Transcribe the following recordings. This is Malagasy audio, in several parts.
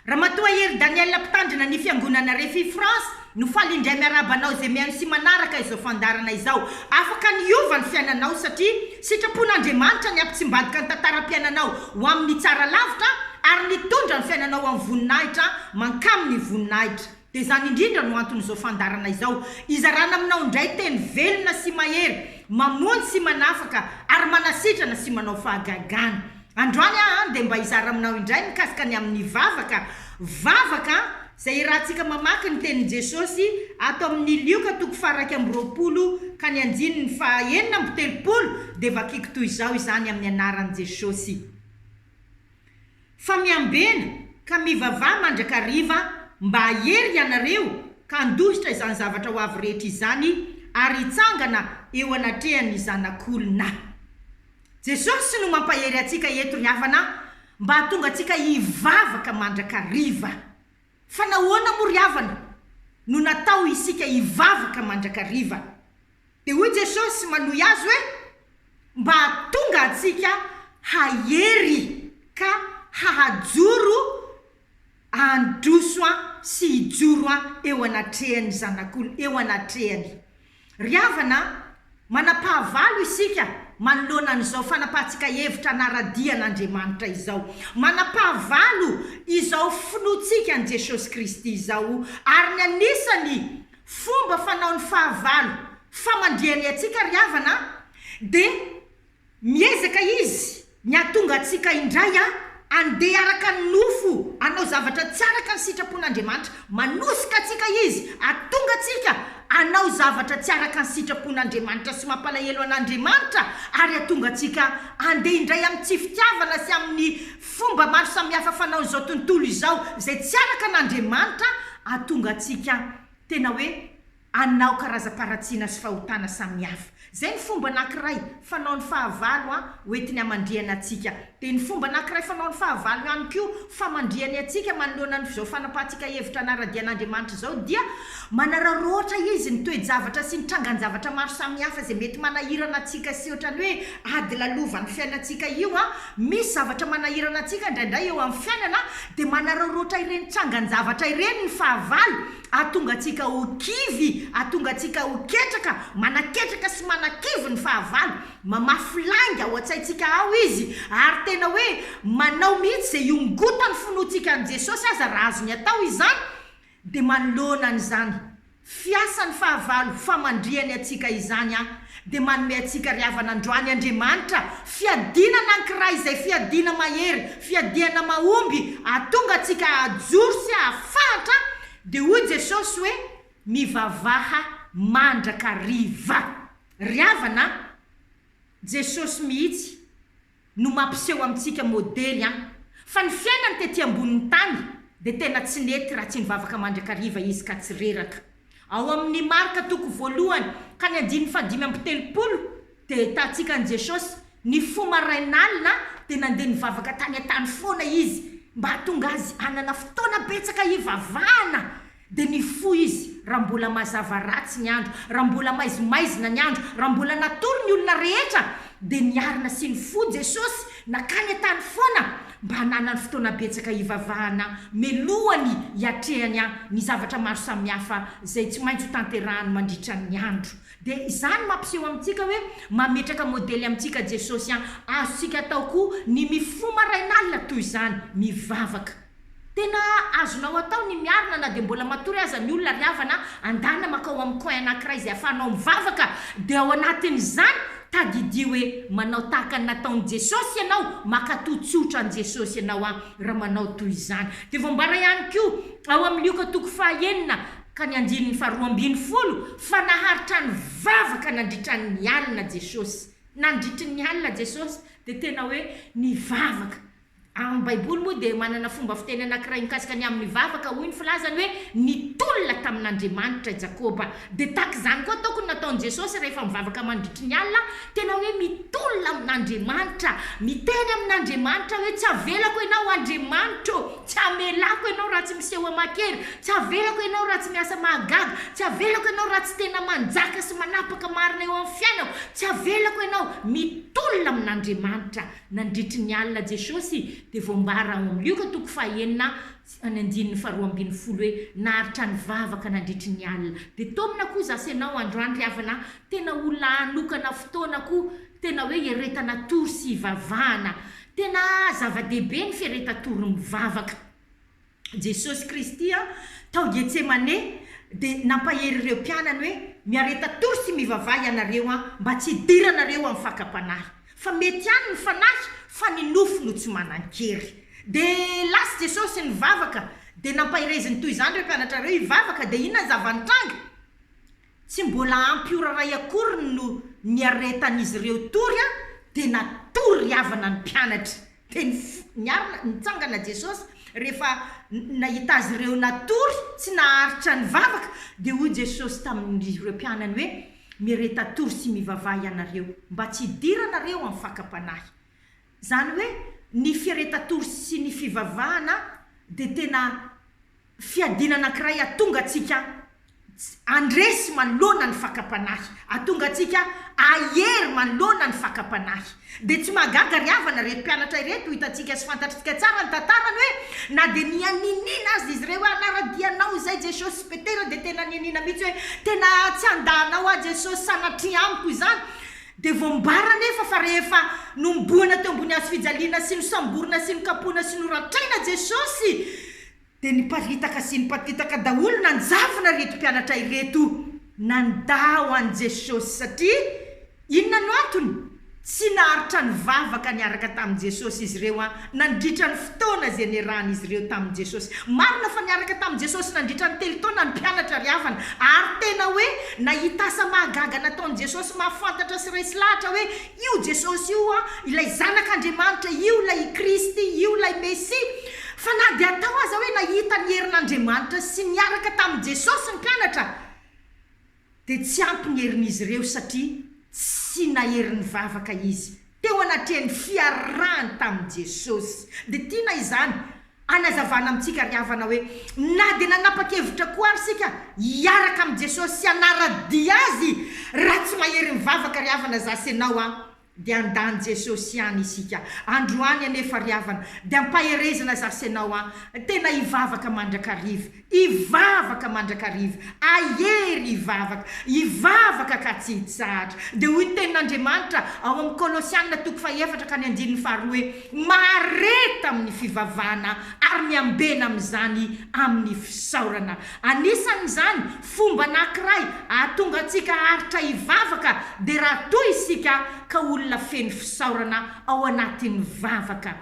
Ramatoa Hery Danielle mpitandrina ny fiangonana Rfi France no faly indray miarahaba anao izay mihaino sy manaraka izao fandaharana izao. Afaka ny hiova ny fiainanao satria sitrapon'Andriamanitra ny hampitsimbadika ny tantaram-piainanao ho amin'ny tsara lavitra ary ny hitondra ny fiainanao ho amin'ny voninahitra mankamin'ny voninahitra. Dia izany indrindra no anton'izao fandaharana izao, hizarana aminao indray teny velona sy mahery, mamonjy sy manafaka ary manasitrana sy manao fahagagana. Androany aho dia mba hizara aminao indray mikasika ny amin'ny vavaka, vavaka izay iarahantsika mamaky ny tenin'i Jesosy ato amin'ny Lioka toko faharaika amby roapolo ka ny andininy fahaenina amby telopolo, dia vakiko toy izao izany amin'ny anaran'i Jesosy. Fa miambena ka mivavaha mandrakariva mba hahery ianareo ka handohitra izany zavatra ho avy rehetra izany ary hitsangana eo anatrehan'ny Zanak'olona. Jesosy no mampahery antsika eto ry havana mba hahatonga antsika hivavaka mandrakariva. Fa nahoana moa ry havana no natao isika hivavaka mandrakariva? Dia hoy Jesosy manohy azy hoe, Mba tonga antsika hahery ka hahajoro handroso sy hijoro eo anatrehan'ny Zanak'olo, eo anatrehany. Ry havana, manampahavalo isika manoloana an'izao fanapahantsika hevitra hanara-dia an'Andriamanitra izao. Manampahavalo izao finoantsika an'i Jesosy Kristy izao, ary ny anisany Fomba fanaony fahavalo famandrihany antsika ry havana a! dia miezaka izy ny hahatonga antsika indray a andeha araka ny nofo hanao zavatra tsy araka ny sitrapon'Andriamanitra. Manosika antsika izy hahatonga antsika hanao zavatra tsy araka ny sitrapon'Andriamanitra sy mampalahelo an'Andriamanitra ary hahatonga antsika handeha indray amin'ny tsy fitiavana sy amin'ny Fomba maro samihafa fanaon'izao tontolo izao izay tsy araka an'Andriamanitra ahatonga antsika tena hoe anao karazam-paharatsiana sy fahotana samihafa. Izay ny fomba anankiray fanaon'ny fahavalo hoentiny hamandrihana antsika. Dia ny fomba anankiray fanaon'ny fahavalo ihany koa famandrihany antsika manoloana an'izao fanapahantsika hevitra hanara-dia an'Andriamanitra izao dia manararaotra Izy ny toe-javatra sy ny trangan-javatra maro samihafa izay mety manahirana antsika sy ohatran'ny hoe ady lalovan'ny fiainantsika io a, misy zavatra manahirana antsika indraindray eo amin'ny fiainana dia manararaotra ireny tsangan-javatra ireny ny fahavalo ahatonga antsika ho kivy, ahatonga antsika ho ketraka, manaketraka sy manakivy ny fahavalo, mamafy lainga ao an-tsaintsika ao izy ary tena hoe manao mihitsy izay hiongotan'ny finoantsika an'i Jesosy aza raha azony atao izany, Dia manoloana an'izany fiasan'ny fahavalo famandrihany antsika izany aho dia manome antsika ry havana androany Andriamanitra fiadiana anankiray izay fiadiana mahery, fiadiana mahomby ahatonga antsika hahajoro sy hahafahatra dia hoy Jesosy hoe mivavaha mandrakariva. Ry havana a! Jesosy mihitsy. no mampiseho amintsika modely an! Fa ny fiainany tety ambonin'ny tany dia tena tsy nety raha tsy nivavaka mandrakariva izy ka tsy reraka. Ao amin'ny Marka toko voalohany ka ny andininy fahadimy amby telopolo dia ahitantsika an'i Jesosy, Ny fo marain'alina dia nandeha nivavaka tany an-tany foana izy mba hahatonga azy hanana fotoana betsaka hivavahana Dia nifoha izy raha mbola mazava ratsy ny andro, raha mbola maizimaizina ny andro, raha mbola natory ny olona rehetra, dia niarina sy nifoha Jesosy nakany an-tany foana mba hananany fotoana betsaka hivavahana melohany hiatrehany ny zavatra maro samihafa izay tsy maintsy ho tanterahany mandritra ny andro. Dia izany mampiseho amintsika hoe mametraka modely amintsika Jesosy an! Azontsika atao koa ny mifoha marain'alina toy izany, mivavaka. Tena azonao atao ny miarina na dia mbola matory aza ny olona ry havana a! Andana makao amin'ny coin anankiray izay afahanao mivavaka dia ao anatin'izany tadidio hoe manao tahaka ny nataon'i Jesosy ianao, maka-toa tsotra an'i Jesosy ianao an! raha manao toy izany. Dia voambara ihany koa ao amin'ny Lioka toko fahaenina ka ny andininy faharoa ambin'ny folo fa naharitra ny vavaka nandritra ny alina Jesosy. Nandritry ny alina Jesosy dia tena hoe nivavaka. Amin'ny Baiboly moa dia manana fomba fiteny anankiray mikasika ny amin'ny vavaka, hoy ny filazany hoe nitolona tamin'Andriamanitra i Jakoba. Dia tahaka izany koa ataoko no nataon'i Jesosy rehefa mivavaka mandritry ny alina, tena hoe mitolona amin'Andriamanitra, miteny amin'Andriamanitra hoe tsy avelako ianao Andriamanitra ô, tsy amelako ianao raha tsy miseho aman-kery, tsy avelako ianao raha tsy miasa mahagaga, tsy avelako ianao raha tsy tena manjaka sy manapaka marina eo amin'ny fiainako, tsy avelako ianao, mitolona amin'Andriamanitra. Nandritry ny alina Jesosy dia voambara ao amin'ny Lioka toko fahaenina ny andininy faharoa ambin'ny folo hoe, Naharitra nivavaka nandritry ny alina. Dia taomina koa za sy ianao androany ry havana a! Tena olona hanokana fotoana koa tena hoe hiaretan-hatory sy hivavahana. Tena zava-dehibe ny fiaretan-tory mivavaka. Jesosy Kristy tao Getsemane dia nampahery ireo mpianany hoe, Miareta tory sy mivavaha ianareo mba tsy hidiranareo amin'ny fakam-panahy. Fa mety ihany ny fanahy fa ny nofo no tsy manan-kery. Dia lasa Jesosy nivavaka dia nampahereziny toy izany ireo mpianatra ireo hivavaka dia inona ny zava-nitranga? Tsy mbola ampy ora iray akory no niaretan'izy ireo tory dia natory ry havana ny mpianatra. Dia niarina nitsangana Jesosy, rehefa nahita azy ireo natory tsy naharitra nivavaka, dia hoy Jesosy tamin'ireo mpianany hoe, Miareta-tory sy mivavaha ianareo, mba tsy hidiranareo amin'ny fakam-panahy. Izany hoe ny fiareta-tory sy ny fivavahana dia tena. Fiadiana anankiray hatonga antsika tsy handresy manoloana ny fakam-panahy, hatonga antsika hahery manoloana ny fakam-panahy. Dia tsy mahagaga ry havana, ireto mpianatra ireto, hitantsika sy fantatrtsika tsara ny tantarany hoe, na dia nianianiana aza izy ireo hoe, Hanara-dia Anao izay Jesosy. I Petera dia tena nianiana mihitsy hoe, Tena tsy handà Anao aho Jesosy, sanatria amiko izany. Dia voambara anefa fa rehefa nohomboana teo ambony hazo fijaliana sy nosamborina sy nokapohina sy noratraina Jesosy, Dia niparitaka sy nipatitaka daholo nanjavona ireto mpianatra ireto nandà ho an'i Jesosy. Satria inona no antony? Tsy naharitra nivavaka niaraka tamin'i Jesosy izy ireo nandritra ny fotoana izay niarahan'izy ireo tamin'i Jesosy. Marina fa niaraka tamin'i Jesosy nandritra ny telo taona ny mpianatra ry havana, ary tena hoe nahita asa mahagaga nataon'i Jesosy mahafantatra sy resy lahatra hoe, Io Jesosy io ho'a ilay Zanak' Andriamanitra, io ilay i Kristy, io ilay Mesia. Fa na dia atao aza hoe nahita ny herin' Andriamanitra sy niaraka tamin'i Jesosy ny mpianatra, dia tsy ampy ny herin'izy ireo satria tsy nahery nivavaka izy teo anatrehan'ny fiarahany tamin'i Jesosy. Dia tiana izany Anazavana amintsika ry havana hoe na dia nanapa-kevitra koa ary isika hiaraka amin'i Jesosy sy hanara-dia Azy, raha tsy mahery mivavaka ry havana za sy ianao an, dia handà an'i Jesosy ihany isika. Androany anefa ry havana dia ampaherezana za sy ianao an, tena hivavaka mandrakariva. Hivavaka mandrakariva, ahery hivavaka, hivavaka ka tsy hitsahatra. Dia hoy ny Tenin'Andriamanitra ao amin'ny Kolosiana toko fahefatra ka ny andininy faharoa hoe, Mahareta amin'ny fivavahana ary miambena amin'izany amin'ny fisaorana. Anisan'izany fomba anankiray hahatonga antsika haharitra hivavaka dia raha toa isika ka olona feno fisaorana ao anatin'ny vavaka.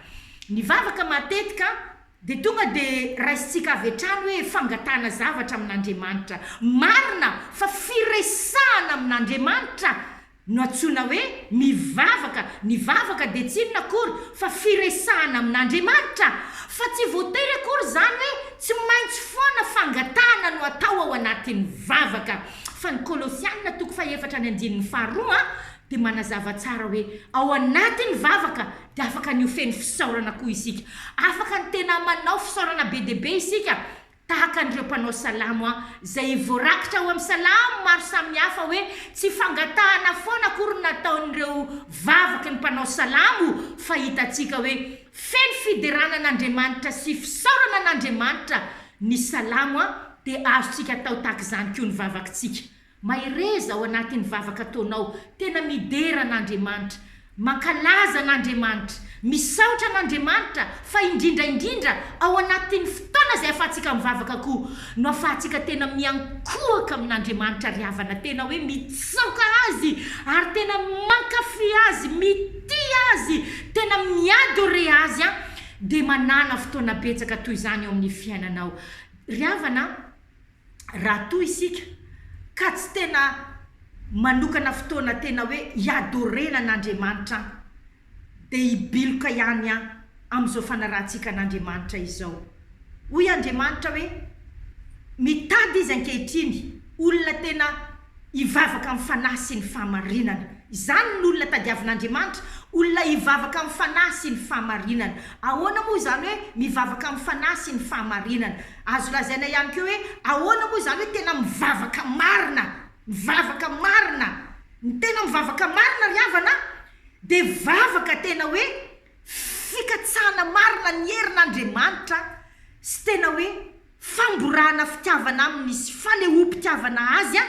Ny vavaka matetika Dia tonga dia raisintsika avy hatrany hoe fangatahana zavatra amin'Andriamanitra. Marina fa firesahana amin'Andriamanitra no antsoina hoe mivavaka. Ny vavaka dia tsy inona akory fa firesahana amin'Andriamanitra. Fa tsy voatery akory izany hoe tsy maintsy foana fangatahana no atao ao anatin'ny vavaka. Fa ny Kolosiana toko fahefatra ny andininy faharoa dia manazava tsara hoe ao anatin'ny vavaka dia afaka ny ho feno fisaorana koa isika. Afaka ny tena manao fisaorana be dia be isika, tahaka an'ireo mpanao salamo izay voarakitra ao amin'ny salamo maro samihafa hoe tsy fangatahana foana akory no nataon'ireo vavaky ny mpanao salamo, fa hitantsika hoe feno fiderana an'Andriamanitra sy fisaorana an'Andriamanitra ny salamo, dia azontsika atao tahaka izany koa ny vavakintsika. Mahereza ao anatin'ny vavaka ataonao, tena midera an'Andriamanitra, mankalaza an'Andriamanitra, misaotra an'Andriamanitra, fa indrindra indrindra ao anatin'ny fotoana izay afahantsika mivavaka koa no afahantsika tena miankohoka amin'Andriamanitra ry havana, tena hoe mitsaoka Azy ary tena mankafy Azy, mitia Azy, tena mi-adorer Azy an, dia manana fotoana betsaka toy izany ao amin'ny fiainanao ry havana an. raha toa isika ka tsy tena manokana fotoana tena hoe hi-adorer-na an'Andriamanitra an, dia hibiloka ihany an amin'izao fanarahantsika an'Andriamanitra izao. Hoy Andriamanitra hoe, Mitady Izy ankehitriny olona tena Hivavaka amin'ny fanahy sy ny fahamarinana. Izany ny olona tadiavin'Andriamanitra, olona hivavaka amin'ny fanahy sy ny fahamarinana. Ahoana moa izany hoe mivavaka amin'ny fanahy sy ny fahamarinana? Azo lazaina ihany koa hoe ahoana moa izany hoe tena mivavaka marina? Mivavaka marina. Ny tena mivavaka marina ry havana dia vavaka tena hoe fikatsahana marina ny herin' Andriamanitra sy tena hoe famborahana fitiavana Aminy sy fanehoam-pitiavana Azy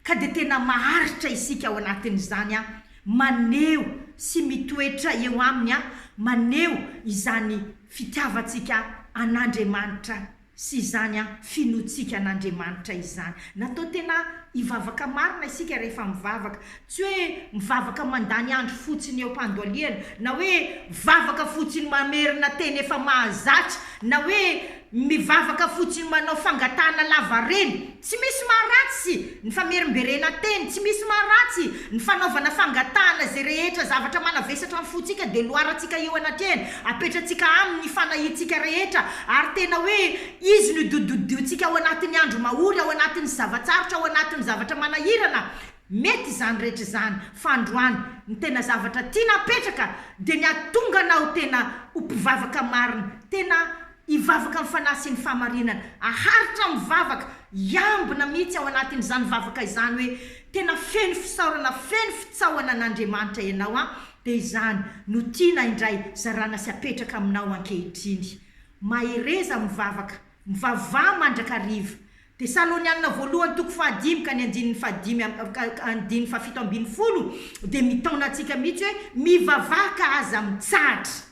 ka dia tena maharitra isika ao anatin' izany maneho sy mitoetra eo Aminy maneho izany fitiavantsika an' Andriamanitra sy izany finoantsika an'Andriamanitra izany. Natao tena hivavaka marina isika rehefa mivavaka. Tsy hoe mivavaka mandany andro fotsiny eo am-pandoaliana, na hoe vavaka fotsiny mamerina teny efa mahazatra, na hoe mivavaka fotsiny manao fangatahana lavareny. Tsy misy maharatsy ny famerimberenan-teny, tsy misy maharatsy ny fanaovana fangatahana izay rehetra zavatra manavesatra ny fontsika dia loarantsika eo anatrehany, apetratsika aminy ny fanahiantsika rehetra ary tena hoe izy no dodododiontsika ao anatin'ny andro mahory, ao anatin'ny zava-tsarotra, ao anatin'ny zavatra manahirana, mety izany rehetra izany fa androany ny tena zavatra tiana apetraka dia ny hahatonga anao tena ho mpivavaka marina, tena. Hivavaka amin'ny fanahy sy ny fahamarinana. Haharitra amin'ny vavaka, hiambina mihitsy ao anatin'izany vavaka izany hoe, Tena feno fisaorana, feno fitsaohana an'Andriamanitra ianao an! Dia izany no tiana indray zarana sy apetraka aminao ankehitriny. Mahereza amin'ny vavaka. Mivavaha mandrakariva. Tesalonianina voalohany toko fahadimy ka ny andininy fahadimy am, ka ny andininy fahafito ambin'ny folo dia mitaona antsika mihitsy hoe, Mivavaha ka aza mitsahatra.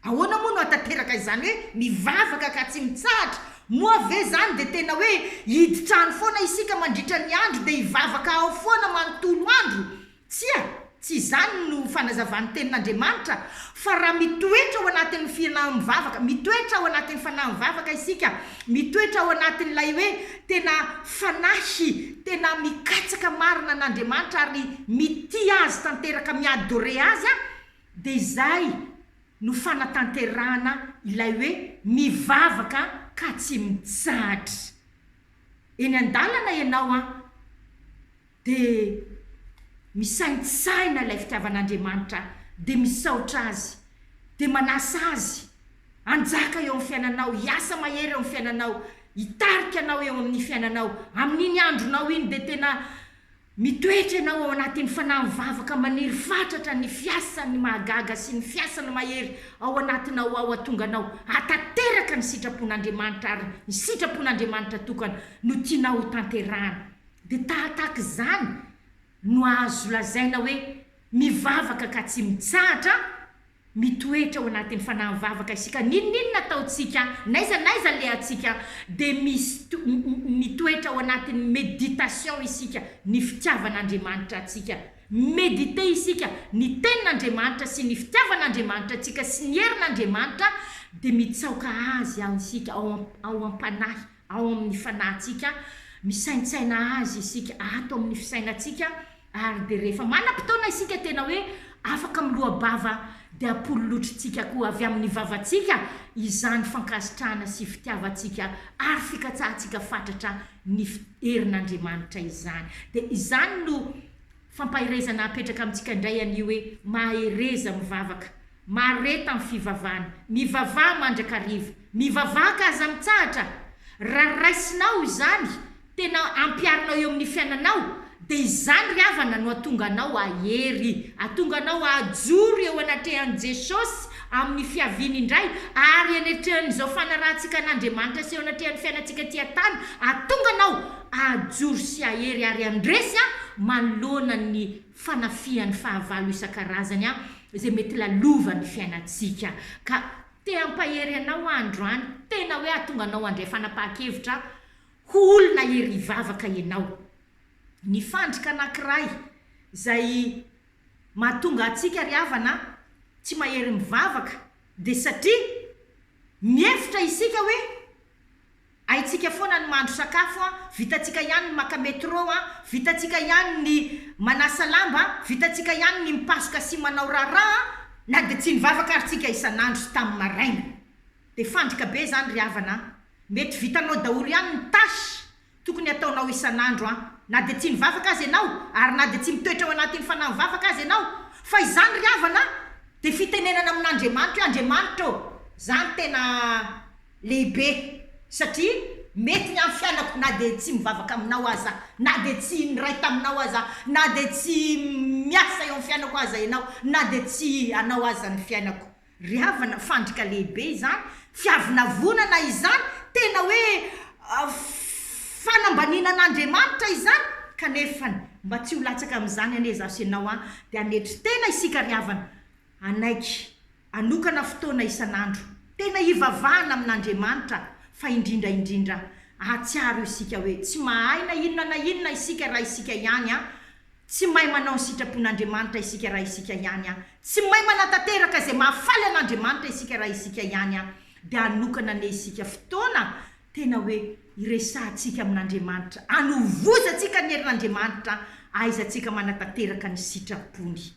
Ahoana moa no hahatanteraka izany hoe mivavaka ka tsy mitsahatra? Moa ve izany dia tena hoe hiditra-any foana isika mandritra ny andro dia hivavaka ao foana manontolo andro? Tsia, tsy izany no fanazavan'ny Tenin'Andriamanitra, fa raha mitoetra ao anatin'ny fianaham-bavaka, mitoetra ao anatin'ny fanahim-vavaka isika, mitoetra ao anatin'ilay hoe tena fanahy, tena mikatsaka marina an'Andriamanitra ary mitia Azy tanteraka, mi-adorer Azy, Dia izay no fanatanterahana ilay hoe mivavaka ka tsy mitsahatra. Eny an-dalana ianao an, dia misaintsahina ilay fitiavan'Andriamanitra, dia misaotra Azy, dia manasa Azy hanjaka eo amin'ny fiainanao, hiasa mahery eo amin'ny fiainanao, hitarika anao eo amin'ny fiainanao, amin'iny andronao iny dia tena. Mitoetra ianao ao anatin'ny fanahy mivavaka maniry fatratra ny fiasan'ny mahagaga sy ny fiasana mahery ao anatinao ao atonga anao hahatanteraka ny sitrapon'Andriamanitra ary ny sitrapon'Andriamanitra tokana no tianao ho tanterahana dia tahataka izany no azo lazaina hoe mivavaka ka tsy mitsahatra Mitoetra ao anatin'ny fanahy mivavaka isika n'inon'inona ataontsika, n'aiza n'aiza alehantsika, dia misto, mitoetra ao anatin'ny méditation isika ny fitiavan'Andriamanitra antsika, mi-méditer isika ny Tenin'Andriamanitra sy ny fitiavan'Andriamanitra antsika sy ny herin'Andriamanitra dia mitsaoka Azy ao isika ao am, ao am-panahy, ao amin' ny fanahintsika, misaintsaina azy isika ato amin' ny fisainantsika, ary dia rehefa manam-potoana isika tena hoe afaka miloa-bava, dia ampololotritsika koa avy amin' ny vavantsika izany fankasitrahana sy fitiavantsika ary fikatsahantsika fatratra ny herin' Andriamanitra izany. Dia izany no. Fampaherezana apetraka amintsika indray anie hoe mahereza mivavaka, mahareta amin'ny fivavahana, mivavaha mandrakariva, mivavaha ka aza mitsahatra, raha raisinao izany, tena ampiharinao eo amin'ny fiainanao, dia izany ry havana no hatonga anao hahery, hatonga anao hahajoro eo anatrehan'i Jesosy amin'ny fiaviany indray, ary eny atrehan'izao fanarahantsika an'Andriamanitra sy eo anatrehan'ny fiainantsika aty an-tany, hatonga anao Ajoro sy ahery ary andresy aho manoloana ny fanafihan'ny fahavalo isan-karazany aho izay mety lalova ny fiainantsika ka te hampahery anao aho androany tena hoe hahatonga anao handray fanapahan-kevitra aho ho olona hery hivavaka ianao ny fandrika anankiray izay mahatonga antsika ry havana tsy mahery mivavaka dia satria mihevitra isika hoe Haintsika foana ny mahandro sakafo an, vitantsika ihany ny maka metro an, vitantsika ihany ny manasa lamba an, vitantsika ihany ny mipasoka sy manao raharaha an, na dia tsy nivavaka ary tsika isan'andro tamin'ny maraina. Dia fandrika be izany ry havana an! Mety vitanao daholo ihany ny tâche tokony hataonao isan'andro an, na dia tsy nivavaka aza ianao ary na dia tsy mitoetra ao anatin'ny fanahy mivavaka aza ianao, fa izany ry havana an, dia fitenenana amin'Andriamanitra hoe Andriamanitra ô! Izany tena. lehibe satria mety ny amin'ny fianako na dia tsy mivavaka aminao aza na dia tsy niray taminao aza na dia tsy miasa eo amin'ny fiainako aza ianao na dia tsy anao aza ny fiainako ry havana fandrika lehibe izany fiavonavonana izany tena hoe fanambaniana an'Andriamanitra izany kanefa mba tsy ho latsaka amin'izany anie izaho sy ianao an dia hanetry tena isika ry havana hanaiky Anokana fotoana isan'andro tena hivavahana amin'Andriamanitra fa indrindra indrindra ahatsiaro isika hoe tsy mahay na inona na inona isika raha isika ihany, tsy mahay manao ny sitrapon'Andriamanitra isika raha isika ihany, tsy mahay manatanteraka izay mahafaly an'Andriamanitra isika raha isika ihany, dia hanokana anie isika fotoana tena hoe hiresahantsika amin'Andriamanitra, hanovozantsika ny herin'Andriamanitra, ahaizantsika manatanteraka ny sitrapony.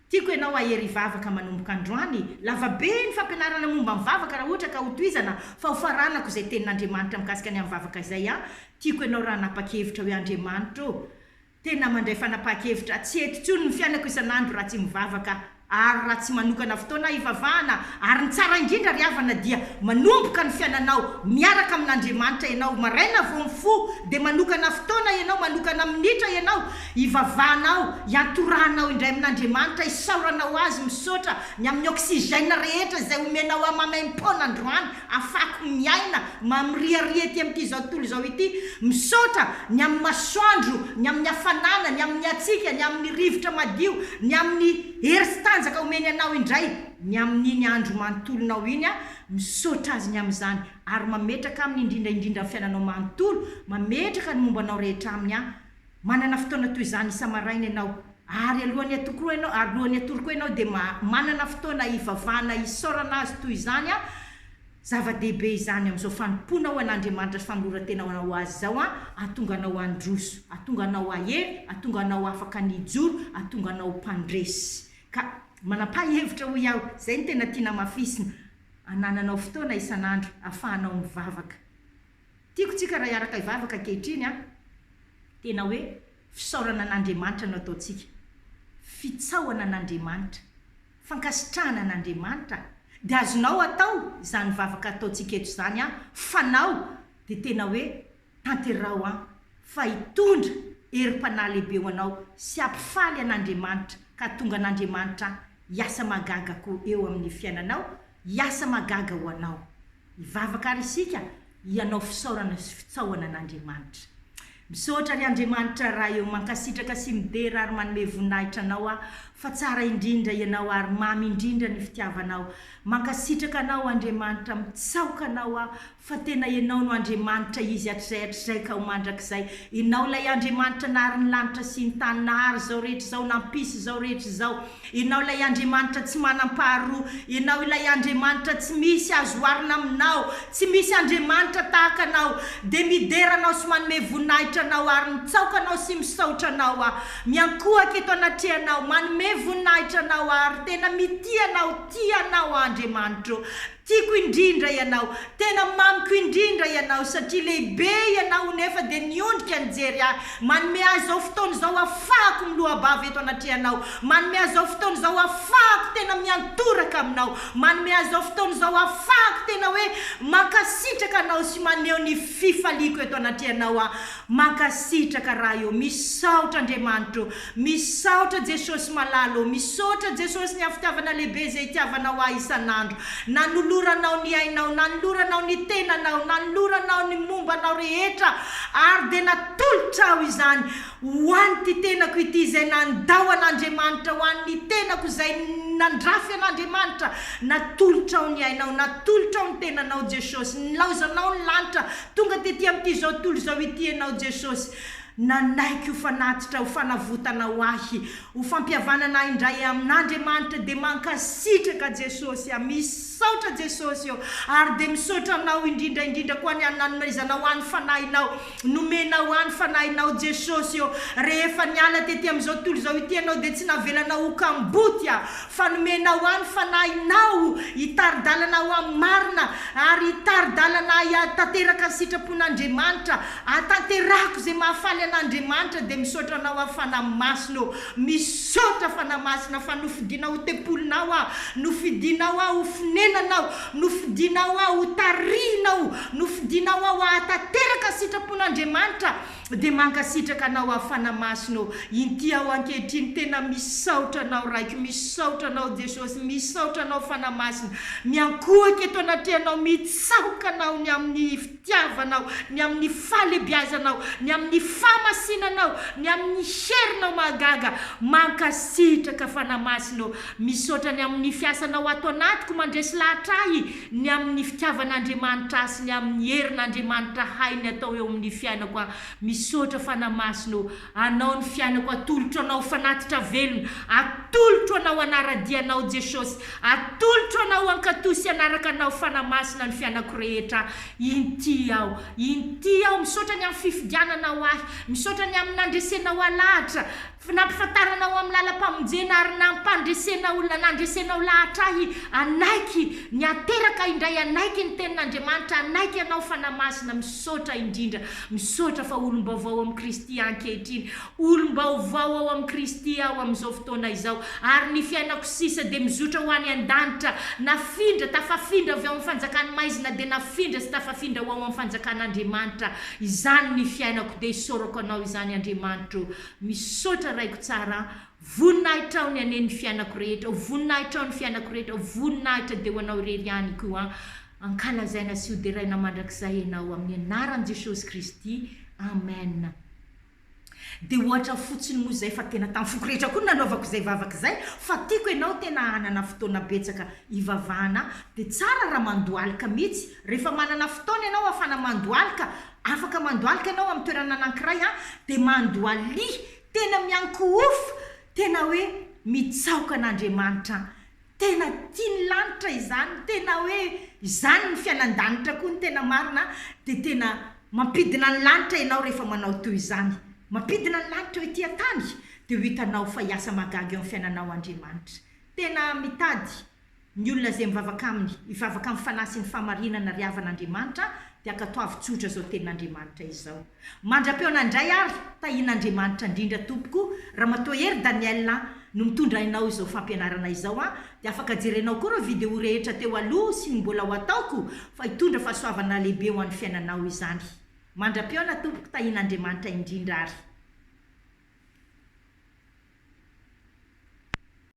Tiako ianao hahery hivavaka manomboka androany. Lava be ny fampianarana momba ny vavaka raha ohatra ka ho tohizana fa ho faranako izay tenin'Andriamanitra mikasika ny amin'ny vavaka izay an! Tiako ianao raha hanapa-kevitra hoe Andriamanitra ô! Tena mandray fanapahan-kevitra tsy hety intsony ny fiainako isan'andro raha tsy mivavaka ary raha tsy manokana fotoana hivavahana ary ny tsara indrindra ry havana dia manomboka ny fiainanao miaraka amin'Andriamanitra ianao maraina vao mifoha dia manokana fotoana ianao manokana minitra ianao Ivavahanao, iantorahanao indray amin'Andriamanitra, isaoranao Azy, misaotra ny amin'ny oxygène rehetra izay omenao ahy maimaim-poana androany afahako miaina mamiriaria ety amin'ity izao tontolo izao ity, misaotra ny amin'ny masoandro, ny amin'ny hafanana, ny amin'ny hatsiaka, ny amin'ny rivotra madio, ny amin'ny hery sy tanjaka omeny anao indray ny amin'iny andro manontolonao iny aho, misaotra Azy ny amin'izany ary mametraka aminy indrindra indrindra ny fiainanao manontolo, mametraka ny momba anao rehetra aminy aho. Manana fotoana toy izany isa-maraina ianao, ary alohan'ny atokoroa ianao, ary alohan'ny atoroko ianao, dia ma, manana fotoana hivavahana, hisaorana Azy toy izany an, zava-dehibe izany amin'izao fanompoanao ho an'Andriamanitra sy famoloran-tenao ho Azy izao an, hahatonga anao handroso, hahatonga anao hahery, hahatonga anao afaka ny hijoro, hahatonga anao ho mpandresy. Ka, manam-paha-hevitra hoy aho, izay no tena tiana hamafisina, hanananao fotoana isan'andro, ahafahanao mivavaka. Tiako tsika raha hiaraka hivavaka ankehitriny an! Tena hoe fisaorana an'Andriamanitra no ataontsika. Fitsaohana an'Andriamanitra. Fankasitrahana an'Andriamanitra. Dia azonao atao izany vavaka ataontsika eto izany an! Fanao dia tena hoe tanteraho an! Fa hitondra herim-panahy lehibe ho anao sy hampifaly an'Andriamanitra ka hatonga an'Andriamanitra hiasa mahagaga koa eo amin'ny fiainanao, hiasa mahagaga ho anao. Hivavaka ary isika hianao fisaorana sy fitsaohana an'Andriamanitra. Misaotra ry Andriamanitra Ray ô, mankasitraka sy midera ary manome voninahitra Anao aho fa tsara indrindra Ianao ary mamy indrindra ny fitiavanao. Mankasitraka Anao Andriamanitra, mitsaoka Anao aho fa tena Ianao no Andriamanitra izy hatrizay hatrizay ka ho mandrakizay. Ianao ilay Andriamanitra nahary ny lanitra sy ny tany, nahary izao rehetra izao, nampisy izao rehetra izao. Ianao ilay Andriamanitra tsy manam-paharoa. Ianao ilay Andriamanitra tsy misy azo oharina aminao. Tsy misy Andriamanitra tahaka Anao. Dia midera Anao sy manome voninahitra Anao ary mitsaoka Anao sy misaotra Anao aho. Miankohaka eto anatrehanao, manome voninahitra Anao ary tena mitia Anao, tia Anao aho Andriamanitro. Tiako indrindra ianao, tena mamiko indrindra ianao satria lehibe ianao nefa dia niondrika nijery ahy, manome ahy izao fotoana izao hafahako miloa-bava eto anatrehanao, manome ahy izao fotoana izao hafahako tena miantoraka aminao, manome ahy izao fotoana izao hafahako tena hoe mankasitraka anao sy maneho ny fifaliako eto anatrehanao aho, mankasitraka Ray ô, misaotra Andriamanitra ô, Misaotra Jesosy malala ô. Misaotra Jesosy ny hafitiavana lehibe izay itiavanao ahy isan'andro. Nanoloranao ny ainao, nanoloranao ny tenanao, nanoloranao ny momba anao rehetra ary dia natolotra aho izany ho an'ity tenako ity izay nandao an'Andriamanitra, ho an'ny tenako izay nandrafy an'Andriamanitra. Natolotrao ny ainao, natolotrao ny tenanao Jesosy. Nilaozanao ny lanitra, tonga tety amin'ity zao tontolo izao ity ianao Jesosy. Nanaiky ho fanatitra, ho fanavotana ho ahy, ho fampihavanana ahy indray amin Andriamanitra dia mankasitraka Jesosy a, misaotra Jesosy ô, ary dia misaotra anao indrindra indrindra koa ny an nanomaizanao ahy ny fanahinao, nomenao ahy ny fanahinao Jesosy ô, rehefa niala tety amin izao tontolo izao ity ianao dia tsy navelanao ho kamboty aho, fa nomenao ahy ny Fanahinao hitari-dalana ahy ho amin'ny marina, ary hitari-dalana ahy hahatanteraka ny sitrapon'Andriamanitra, hahatanterahako izay mahafaly an'Andriamanitra, dia misaotra Anao aho, Fanahy Masina ô, misaotra, Fanahy Masina, fa nofidinao ho tempolinao aho, nofidinao aho ho fonenanao, nofidinao aho ho tarihinao, nofidinao aho hahatanteraka ny sitrapon'Andriamanitra, Dia mankasitraka anao hafana masina ô. Inty aho ankehitriny tena misaotra anao raiko misaotra anao Jesosy misaotra anao fana masina miankohoka eto anatrehanao mitsaoka anao ny amin'ny fitiavanao ny amin'ny fahalebiazanao ny amin'ny fahamasinanao ny amin'ny herinao mahagaga mankasitraka fana masina ô misaotra ny amin'ny fiasanao ato anatiko mandresy lahatra ahy ny amin' ny fitiavan' Andriamanitra ahy sy ny amin' ny herin' Andriamanitra hay ny atao eo amin' ny fiainako aho, misaotra Fanahy Masina ô, Anao ny fiainako atolotro Anao fanatitra velona, atolotro Anao hanara-dia Anao Jesosy, atolotro Anao hankatò sy hanaraka Anao Fanahy Masina ny fiainako rehetra, inty aho, inty aho, misaotra ny amin' ny fifidiananao ahy, misaotra ny amin' ny nandresenao alahatra, Fy nampifantarana ho amin'ny lalam-pamonjena ary nampandresena olona nandresena ho lahatra ahy hanaiky ny hateraka indray hanaiky ny tenin'Andriamanitra hanaiky anao Fanahy Masina misaotra indrindra misaotra fa olom-baovao amin'i Kristy aho ankehitriny olom-baovao ao amin'i Kristy aho amin'izao fotoana izao ary ny fiainako sisa dia mizotra ho any an-danitra nafindra tafafindra avy ao amin'ny fanjakan'ny maizina dia nafindra sy tafafindra ho ao amin'ny fanjakan'Andriamanitra izany ny fiainako dia isaorako anao izany Andriamanitro Misaotra raiko tsara a! Voninahitrao ny ane ny fianako rehetra o! Voninahitrao ny fianako rehetra o! Voninahitra de ho anao irery ihany ko a! Ankalazaina sy hoderaina mandrakizay enao amin'ny anaran'i Jesosy Kristy! Amen! De ohatra fotsiny moa zay fa tena tamin'ny foko rehetra koa no nanaovako izay vavaka izay fa tiako enao tena hanana fotoana betsaka hivavahana de tsara raha mandohalika mitsy rehefa manana fotoana enao afana mandohalika Afaka mandohalika ianao amin'ny toerana anankiray an, dia mandohalia tena miankohofa, tena hoe mitsaoka an'Andriamanitra an, tena tia ny lanitra izany, tena hoe izany ny fiainan-danitra koa ny tena marina an, dia tena mampidina ny lanitra ianao rehefa manao toy izany, mampidina ny lanitra eo ety an-tany, dia ho hitanao fa hiasa mahagaga eo amin'ny fiainanao Andriamanitra. Tena mitady. Ny olona izay mivavaka Aminy, hivavaka amin'ny Fanahy sy ny fahamarinana ry havan' Andriamanitra, dia ankatoavy tsotra izao tenin' Andriamanitra izao. Mandra-peo anay indray ary, tahin' Andriamanitra indrindra tompoko, Ramatoa Hery Daniel an, no mitondra ainao izao fampianarana izao an, dia afaka jerenao koa ireo video rehetra teo aloha sy ny mbola ho ataoko, fa hitondra fahasoavana lehibe ho an'ny fiainanao izany. Mandra-peona tompoko tahin' Andriamanitra indrindra ary.